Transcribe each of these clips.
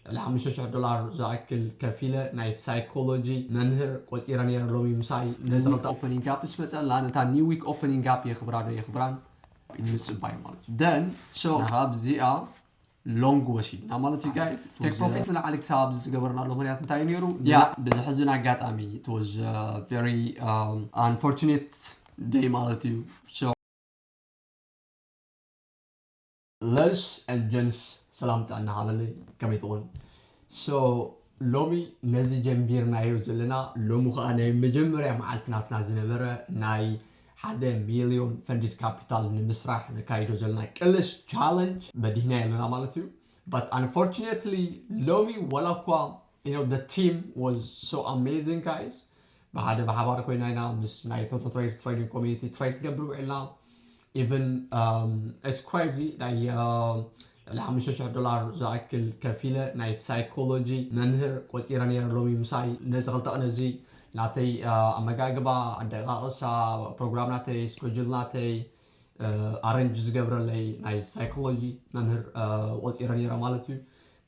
ልዕሊ ሓሙሽተ ሽሕ ዶላር ዝኣክል ከፊለ ናይ ሳይኮሎጂ መምህር ቆጺረ ነይረ ሎሚ ምሳይ ነዚ ክልተ ኦፐኒንግ ጋፕ ምስ መጸላ ነታ ኒው ዊክ ኦፐኒንግ ጋፕ የኽብራ ዶ የኽብራን ምጽባይ ማለት እዩ ደን ሶ ካብዚኣ ሎንግ ወሲድና ማለት እዩ ጋይስ ቴክ ፕሮፊት ንላዕሊ ክሳብ ኣብዚ ዝገበርናሉ ምክንያት እንታይ ነይሩ ያ ብዘሕዝን ኣጋጣሚ it was a very um, unfortunate day ማለት እዩ ለንስ and ጀንስ ሰላም ጥዕና ሃበለይ ከመይ ትኾን so ሎሚ ነዚ ጀምቢርናዮ ዘለና ሎሚ ከኣ ናይ መጀመርያ መዓልቲ ናትና ዝነበረ ናይ ሓደ ሚልዮን ፈንድድ ካፒታል ንምስራሕ ነካይዶ ዘለና ቅልስ ቻለንጅ በዲህናዮ ኣለና ማለት እዩ but unfortunately ሎሚ ዋላ እኳ you know the team was so amazing guys ብሓደ ብሓባር ኮይና ኢና ምስ ናይ ቶቶ ትሬድ ትሬዲንግ ኮሚኒቲ ትሬድ ክንገብር ውዒልና ኢቨን ኢትስ ክሬዚ ናይ ልዕሊ ሓሙሽተ ሽሕ ዶላር ዝኣክል ከፊለ ናይ ሳይኮሎጂ መምህር ቆፂረ ነይረ ሎሚ ምሳይ ነዚ ክልተ ቅነ እዚ ናተይ ኣመጋግባ ኣደቃቅሳ ፕሮግራም ናተይ ስኮጁል ናተይ ኣረንጅ ዝገብረለይ ናይ ሳይኮሎጂ መምህር ቆፂረ ነይረ ማለት እዩ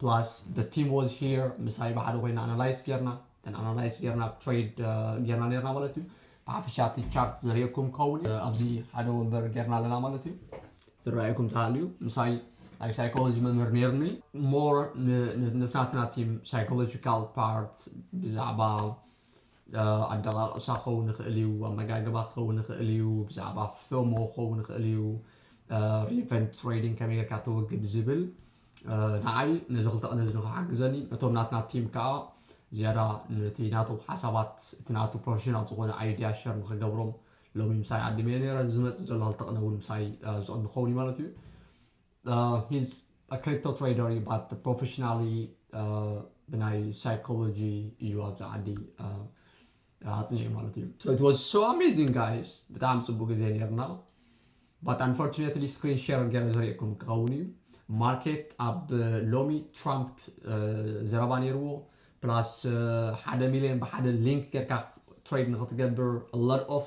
ፕላስ ደ ቲም ዋዝ ሂር ምሳይ ብሓደ ኮይና ኣናላይስ ጌርና ኣናላይስ ጌርና ትሬድ ጌርና ነርና ማለት እዩ ብሓፈሻ እቲ ቻርት ዘርእየኩም ከውን ኣብዚ ሓደ ወንበር ጌርና ኣለና ማለት እዩ ዝረኣየኩም ተሃልዩ ምሳይ ናይ ሳይኮሎጂ መምህር ነይርኒ ሞር ንትናትና ቲም ሳይኮሎጂካል ፓርት ብዛዕባ ኣደቓቕሳ ክኸውን ይኽእል እዩ፣ ኣመጋግባ ክኸውን ይኽእል እዩ፣ ብዛዕባ FOMO ክኸውን ይኽእል እዩ፣ Revenge Trading ከመይ ጌርካ ተወግድ ዝብል ንዓይ ነዚ ክልተ ቅነ እዚ ንኽሓግዘኒ ነቶም ናትና ቲም ከዓ ዝያዳ ነቲ ናቶም ሓሳባት እቲ ናቱ ፕሮፌሽናል ዝኾነ ኣይድያ ሸር ንኽገብሮም ሎሚ ምሳይ ዓዲመ ነይረ ዝመፅእ ዘሎ ክልተ ቅነ እውን ምሳይ ዝቕኒ ክኸውን እዩ ማለት እዩ ሂዝ አ ክሪፕቶ ትሬደር እዩ ባት ፕሮፈሽናሊ ብናይ ሳይኮሎጂ እዩ ኣብዚ ዓዲ ኣፅኒዑ ማለት እዩ So it was so amazing guys ብጣዕሚ ፅቡቅ ግዜ ነርና but unfortunately screen share ገረ ዘርእየኩም ክኸውን እዩ ማርኬት ኣብ ሎሚ ትራምፕ ዘረባ ነይርዎ ፕላስ ሓደ ሚሊዮን ብሓደ ሊንክ ጌርካ ትሬድ ንክትገብር a lot of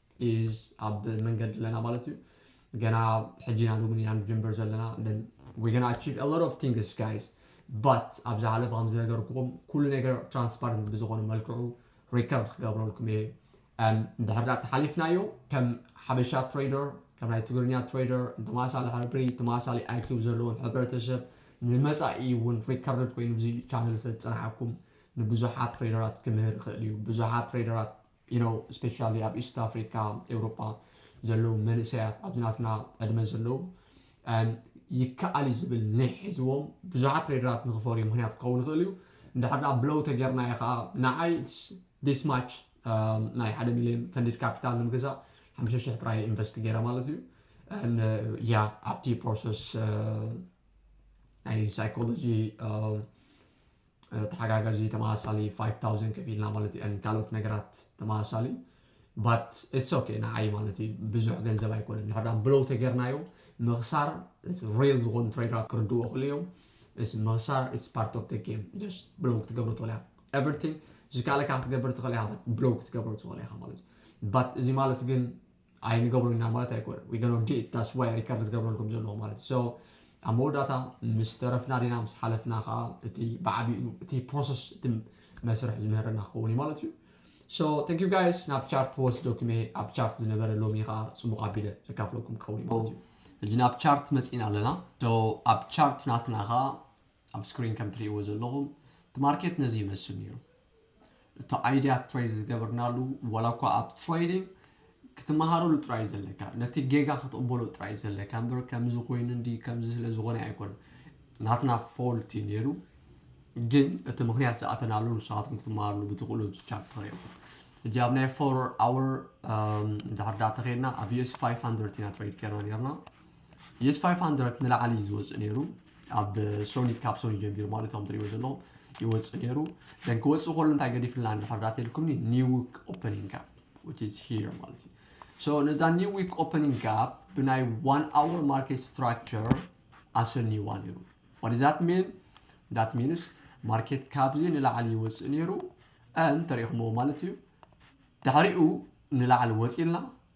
is ኣብ መንገዲ ኣለና ማለት እዩ ገና ሕጂ ኢና ሎሚ ኢና ንጅምር ዘለና then we're gonna achieve a lot of things guys but ኣብ ዝሓለፈ ከም ዝነገርኩኹም ኩሉ ነገር ትራንስፓረንት ብዝኾነ መልክዑ ሪከርድ ክገብረልኩም እየ እንድሕር ዳ ተሓሊፍናዮ ከም ሓበሻ ትሬደር ከም ናይ ትግርኛ ትሬደር ተመሳሳሊ ሕብሪ ተመሳሳሊ ኣይኪው ዘለዎን ሕብረተሰብ ንመፃኢ እውን ሪከርድ ኮይኑ እዚ ቻነል ስለዝፀናሓኩም ንብዙሓት ትሬደራት ክምህር ይኽእል እዩ ብዙሓት ትሬደራት you know especially ኣብ ኢስት ኣፍሪካ ኤውሮጳ ዘለዉ መንእሰያት ኣብዚ ናትና ዕድመ ዘለዉ um፣ ይከኣል እዩ ዝብል ኒሕ ሒዝዎም ብዙሓት ትሬደራት ንክፈርዩ ምክንያት ክኸውን ይኽእል እዩ እንድሕር ደኣ ብለው ተጌርናዮ ከዓ ንዓይ ዲስ ማች um, ናይ ሓደ ሚሊዮን ፈንድድ ካፒታል ንምግዛእ ሓምሸ ሽሕ ጥራይ ኢንቨስት ገይረ ማለት እዩ ያ uh, ኣብቲ ፕሮሰስ uh, ናይ ሳይኮሎጂ um, ተሓጋጋዚ ተመሳሳሊ ፋይቭ ታውዘንድ ከፊልና ማለት እዩ and ካልኦት ነገራት ተመሳሳሊ but it's okay ንዓይ ማለት እዩ ብዙሕ ገንዘብ ኣይኮነን ድሕር ዳኣ ብለው ተገርናዮ ምኽሳር it's real ዝኾኑ ትሬደራት ክርድዎ ክሉ እዮም it's ምኽሳር it's part of the game just ብለው ክትገብሮ ትኽእል ኢኻ everything ዝከኣለካ ክትገብር ትኽእል ኢኻ ብለው ክትገብሮ ትኽእል ኢኻ ማለት እዩ but እዚ ማለት ግን ኣይንገብሮን ኢና ማለት ኣይኮነን we gonna do it that's why ሪከርድ ዝገብረልኩም ዘለኹ ማለት እዩ so ኣብ መወዳእታ ምስ ተረፍና ዲና ምስ ሓለፍና ከዓ እቲ ብዓቢኡ እቲ ፕሮሰስ እቲ መስርሕ ዝምህረና ክኸውን እዩ ማለት እዩ so thank you guys ናብ ቻርት ክወስደኩም እየ ኣብ ቻርት ዝነበረ ሎሚ ከዓ ፅሙቕ ኣቢለ ዘካፍለኩም ክኸውን እዩ ማለት እዩ ሕጂ ናብ ቻርት መፂእና ኣለና ዶ ኣብ ቻርት ናትና ከዓ ኣብ ስክሪን ከም ትሪእዎ ዘለኹም እቲ ማርኬት ነዚ ይመስል ነይሩ። እቲ ኣይዲያ ትሬድ ዝገበርናሉ ዋላ እኳ ኣብ ትሬዲንግ ክትመሃረሉ ጥራይ ዘለካ ነቲ ጌጋ ክትቕበሎ ጥራይ ዘለካ እምበር ከምዚ ኮይኑ እንዲ ከምዚ ስለ ዝኾነ ኣይኮነ ናትና ፎልት እዩ ነይሩ ግን እቲ ምክንያት ዝኣተናሉ ንስኻትኩም ክትመሃርሉ ብትኽእሉ ቻፕ ተሪኹም እጂ ኣብ ናይ ፎር ኣወር ድሕር ዳተ ከድና ኣብ ዩኤስ 500 ኢና ትሬድ ከና ነርና የስ ፋይፍ ሃንድረድ ንላዕሊ እዩ ዝወፅእ ነይሩ ኣብ ሶኒ ካብ ሶኒ ጀሚሩ ማለት እዮም ትሪእዎ ዘለኹም ይወፅእ ነይሩ ደን ክወፅእ ከሎ እንታይ ገዲፍልና እንድሕር ዳት ኢልኩምኒ ኒው ዊክ ኦፐኒንግ ጋፕ ዊች ኢዝ ሂር ማለት እዩ ሶ ነዛ ኒው ዊክ ኦፐኒንግ ጋፕ ብናይ ዋን ኣወር ማርኬት ስትራክቸር ኣሰንይዋ ነይሩ ዋት ዛት ሚን ዳት ሚንስ ማርኬት ካብዚ ንላዕሊ ይወፅእ ነይሩ ን ተሪእኹምዎ ማለት እዩ ድሕሪኡ ንላዕሊ ወፂልና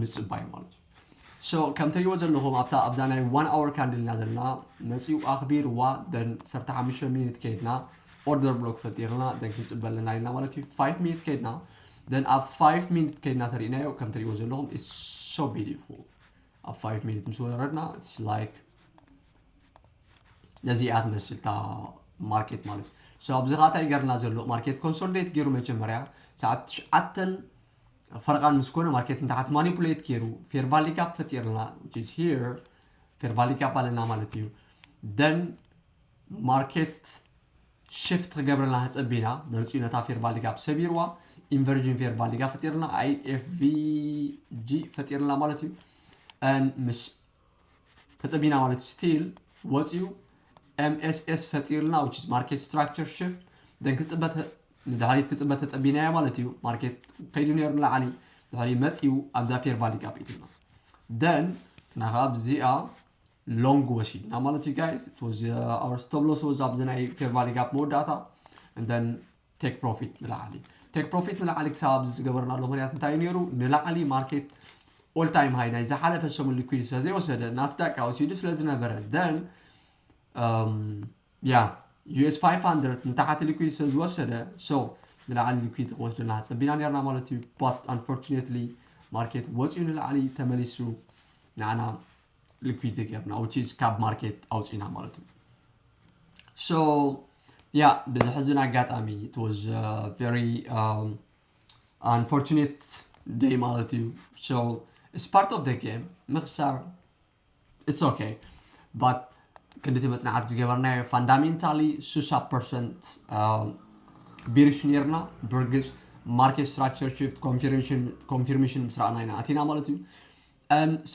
ምጽባይ ማለት እዩ so ከም ትሪእዎ ዘለኹም ኣብታ ኣብዛ ናይ one hour candle ኢና ዘለና መጺኡ ኣኽቢርዋ then ዓሰርተ ሓሙሽተ ሚኒት ከይድና ኦርደር ብሎክ ፈጢርና then ክንጽበ ኣለና ኢልና ማለት እዩ five ሚኒት ከይድና then ኣብ five ሚኒት ከይድና ተሪእናዮ ከም ትሪእዎ ዘለኹም it's so beautiful ኣብ five ሚኒት ምስ ወረድና it's like ነዚ እያ ትመስል እታ ማርኬት ማለት እዩ so ኣብዚ ኻታ ይገርና ዘሎ ማርኬት ኮንሶሊዴት ገይሩ መጀመርያ ሰዓት ትሽዓተን ፈርቓን ምስ ኮነ ማርኬት ንታሓት ማኒፑሌት ጌሩ ፌር ቫሊ ጋፕ ፈጢርልና which is here ፌር ቫሊ ጋፕ ኣለና ማለት እዩ then ማርኬት ሽፍት ክገብረልና ተጸቢና መርጺኡ ነታ ፌር ቫሊ ጋፕ ሰቢርዋ ኢንቨርጅን ፌር ቫሊ ጋፕ ፈጢርልና ኣይኤፍቪጂ ፈጢርልና ማለት እዩ ምስ ተጸቢና ማለት እዩ ስቲል ወጽዩ MSS ፈጢርልና which is market structure shift then ክጽበ ንድሕሪት ክጽበ ተጸቢናዮ ማለት እዩ ማርኬት ከይዱ ነይሩ ንላዕሊ ድሕሪ መጽዩ ኣብዛ ፌር ቫሊ ጋፕ ኢትልና then እና ከዓ ብዚኣ ሎንግ ወሲድና ማለት እዩ ጋይስ it was uh, our stop loss was ኣብዚ ናይ ፌር ቫሊ ጋፕ መወዳእታ and then ቴክ ፕሮፊት ንላዕሊ ቴክ ፕሮፊት ንላዕሊ ክሳብ ኣብዚ ዝገበርናሉ ምክንያት እንታይ እዩ ነይሩ ንላዕሊ ማርኬት ኦል ታይም ሃይ ናይ ዝሓለፈ ሰሙን ሊኩድ ስለዘይወሰደ ናስዳቅ ከዓ ወሲዱ ስለዝነበረ ደን ያ ዩኤስ 500 ንታሕቲ ሊኩድ ስለዝወሰደ ሶ ንላዕሊ ሊኩድ ክወስደና ፀቢና ነርና ማለት እዩ ባት ኣንፎርቹኔትሊ ማርኬት ወፂኡ ንላዕሊ ተመሊሱ ንዓና ሊኩዲቲ ጌርና which is ካብ ማርኬት ኣውፂእና ማለት እዩ so ያ ብዘሕዝን ኣጋጣሚ it was uh, very um, unfortunate day ማለት እዩ so it's part of the game ምኽሳር it's okay but ክንዲቲ መፅናዕቲ ዝገበርናዮ ፋንዳሜንታሊ 60 ፐርሰንት ቢሪሽ ነርና ብርግፅ ማርኬት ስትራክቸር ሽፍት ኮንፊርሜሽን ምስ ረኣና ኢና ኣቲና ማለት እዩ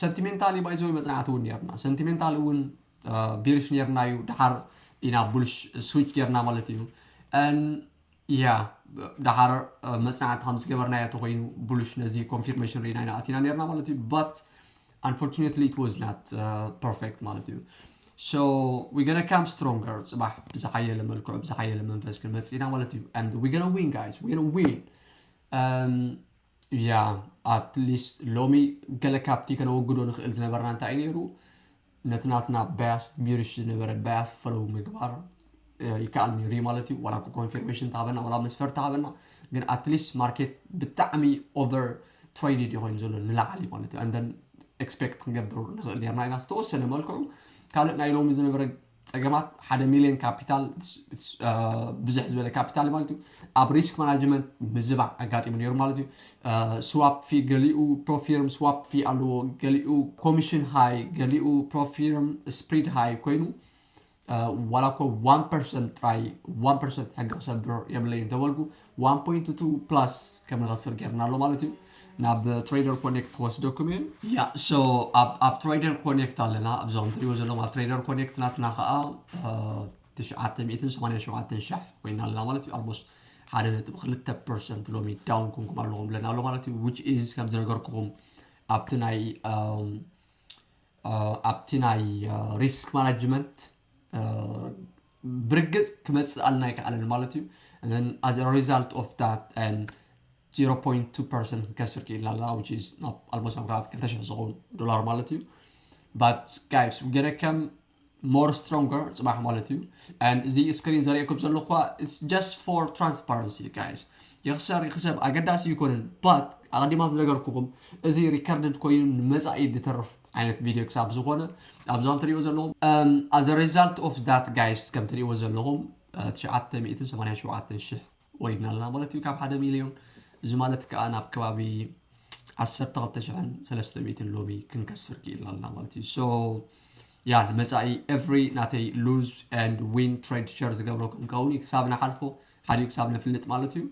ሰንቲሜንታል እዩ ባይዘወይ መጽናዕቲ እውን ኔርና ሰንቲሜንታል እውን ቢርሽ ኔርና እዩ ድሓር ኢና ቡልሽ ስዊች ጌርና ማለት እዩ ያ ድሓር መጽናዕቲ ከም ዝገበርና እያ ተኮይኑ ቡልሽ ነዚ ኮንፊርሜሽን ሪኢና ኢና ኣቲና ኔርና ማለት እዩ ባት unfortunately it was not uh, perfect ማለት እዩ so we're gonna come stronger ጽባሕ ብዝሓየለ መልክዑ ብዝሓየለ መንፈስ ክንመጽእ ኢና ማለት እዩ and we're gonna win guys we're gonna win um, እያ ኣት ሊስት ሎሚ ገለ ካብቲ ከነወግዶ ንኽእል ዝነበርና እንታይ እዩ ነይሩ ነቲ ናትና ባያስ ሚርሽ ዝነበረ ባያስ ፈለው ምግባር ይከኣል ነይሩ እዩ ማለት እዩ ዋላ ኮንፊርሜሽን ተሃበና ዋላ መስፈርቲ ሃበና ግን ኣትሊስት ማርኬት ብጣዕሚ ኦቨር ትሬድድ ይኮይኑ ዘሎ ንላዕሊ ማለት እዩ ኣንደን ኤክስፔክት ክንገብር ንኽእል ነርና ኢና ዝተወሰነ መልክዑ ካልእ ናይ ሎሚ ዝነበረ ፀገማት ሓደ ሚሊዮን ካፒታል ብዝሕ ዝበለ ካፒታል ማለት እዩ ኣብ ሪስክ ማናጅመንት ምዝባዕ ኣጋጢሙ ነይሩ ማለት እዩ ስዋፕ ፊ ገሊኡ ፕሮፊርም ስዋፕ ፊ ኣለዎ ገሊኡ ኮሚሽን ሃይ ገሊኡ ፕሮፊርም ስፕሪድ ሃይ ኮይኑ ዋላ እኮ ዋን ፐርሰንት ጥራይ ዋን ፐርሰንት ሕጊ ክሰብር የብለይ እንተበልኩ ዋን ፖይንት ቱ ፕላስ ከም ንኸስር ጌርና ኣሎ ማለት እዩ ናብ ትሬደር ኮኔክት ክወስደኩም እዩ ያ ሶ ኣብ ትሬደር ኮኔክት ኣለና ኣብዞም ትሪዎ ዘለኹም ኣብ ትሬደር ኮኔክት ናትና ከዓ ትሽዓተ ሚእትን ሰማንያ ሸውዓተን ሻሕ ኮይና ኣለና ማለት እዩ ኣልሞስት ሓደ ነጥቢ ክልተ ፐርሰንት ሎሚ ዳውን ኮንኩም ኣለኹም ብለና ኣሎ ማለት እዩ ዊች ኢዝ ከም ዝነገርኩኹም ኣብቲ ናይ ኣብቲ ናይ ሪስክ ማናጅመንት ብርግፅ ክመፅእ ኣልና ኣይከኣለን ማለት እዩ and then as a result of that um, 0.2 ፐርሰንት ክንከስር ክኢልና ኣለና which is ናብ ኣልሞስት ናብ ከባቢ 200 ዝኸውን ዶላር ማለት እዩ but guys ገለ ከም more stronger ጽባሕ ማለት እዩ and እዚ ስክሪን ዘርእየኩም ዘለኹ ኸኣ it's just for transparency guys ይኽሰር ይኽሰብ ኣገዳሲ ይኮንን but ኣቐዲማ ዝነገርኩኹም እዚ ሪከርድድ ኮይኑ ንመጻኢ ዝተርፍ ዓይነት ቪድዮ ክሳብ ዝኾነ ኣብዞም ትሪእዎ ዘለኹም as a result of that guys ከም ትሪእዎ ዘለኹም 987 ሽሕ ወሪድና ኣለና ማለት እዩ ካብ ሓደ ሚልዮን እዚ ማለት ከዓ ናብ ከባቢ ዓሰርተ ክልተ ሽሕን ሰለስተ ሚእትን ሎሚ ክንከስር ክኢልና ኣለና ማለት እዩ ሶ ያ ንመፃኢ ኤቭሪ ናተይ ሉዝ ኤንድ ዊን ትሬድ ሸር ዝገብሮ ክንከውን እዩ ክሳብ ንሓልፎ ሓዲኡ ክሳብ ነፍልጥ ማለት እዩ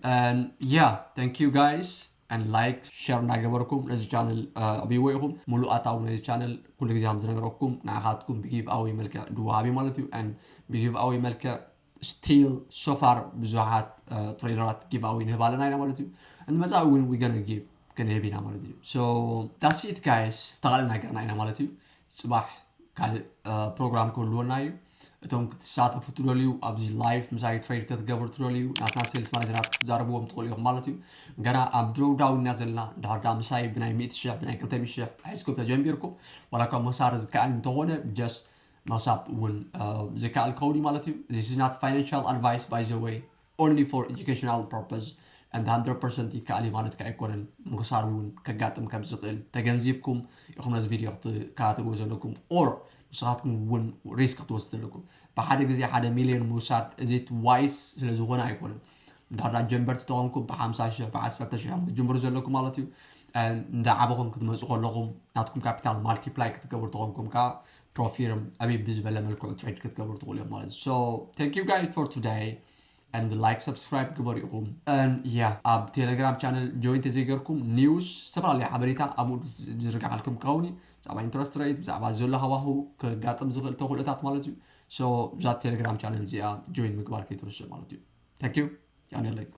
ያ ታንክ ዩ ጋይስ ን ላይክ ሸር እናገበርኩም ነዚ ቻነል ዕብይዎ ኢኹም ሙሉእ ኣታዊ ነዚ ቻነል ኩሉ ግዜ ከም ዝነገረኩም ንዓኻትኩም ብጊቭ ኣወይ መልክዕ ድወሃብ እዩ ማለት እዩ ን ብጊቭ ኣወይ መልክዕ Still so far ብዙሓት ትሬይለራት ጊቭ ኣዌይ ንህብ ኣለና ኢና ማለት እዩ ን መጻኢ እውን we gonna give ክንህብ ኢና ማለት እዩ so that's it guys ዝተኻእለና ነገርና ኢና ማለት እዩ ጽባሕ ካልእ ፕሮግራም ክህልወና እዩ እቶም ክትሳተፉ ትደልዩ ኣብዚ ላይፍ ምሳይ ትሬድ ክትገብሩ ትደልዩ ናትና ሴልስ ማናጀራት ክትዛረብዎም ትኽእሉ ኢኹም ማለት እዩ ገና ኣብ ድሮዳውና ዘለና ድሕር ዳ ምሳይ ብናይ ሚእቲ ሽሕ ብናይ ክልተ ሚእቲ ሽሕ ሒዝኩም ተጀሚርኩም ዋላ እኳ መሳሪ ዝከኣል እንተኾነ ጀስት ምሕሳብ እውን ዘይከኣል ክኸውን እዩ ማለት እዩ this is not financial advice by the way only for educational purpose and 100% ይከኣል እዩ ማለት ከ ኣይኮነን ምኽሳር እውን ከጋጥም ከም ዝኽእል ተገንዚብኩም ኢኹም ነዚ ቪድዮ ክትከታተልዎ ዘለኩም ኦር ንስኻትኩም እውን ሪስክ ክትወስድ ዘለኩም ብሓደ ግዜ ሓደ ሚሊዮን ምውሳድ እዚ ዋይስ ስለ ዝኾነ ኣይኮነን እንዳዳ ጀንበርቲ ተኾንኩም ብሓምሳ ሽሕ ብዓሰርተ ሽሕ ክትጅምሩ ዘለኩም ማለት እዩ እንዳ ዓበኹም ክትመፁ ከለኹም ናትኩም ካፒታል ማልቲፕላይ ክትገብሩ ተኾንኩም ከዓ ፕሮፊርም ዕብይ ብዝበለ መልክዑ ትሬድ ክትገብሩ ትኽእሉ እዮም ማለት እዩ ታንክ ዩ ጋይስ ፎር ቱዳይ and like subscribe ግበሩ ኢኹም ያ ኣብ ቴሌግራም ቻነል ጆይን ተዘይገርኩም ኒውስ ዝተፈላለዩ ሓበሬታ ኣብኡ ዝርግሓልኩም ክኸውን እዩ ብዛዕባ ኢንትረስት ሬት ብዛዕባ ዘሎ ሃዋህው ከጋጥም ዝኽእል ተኽእሎታት ማለት እዩ ሶ ብዛ ቴሌግራም ቻነል እዚኣ ጆይን ምግባር ከይትርስዑ ማለት እዩ ታንክ ዩ ያኔለይ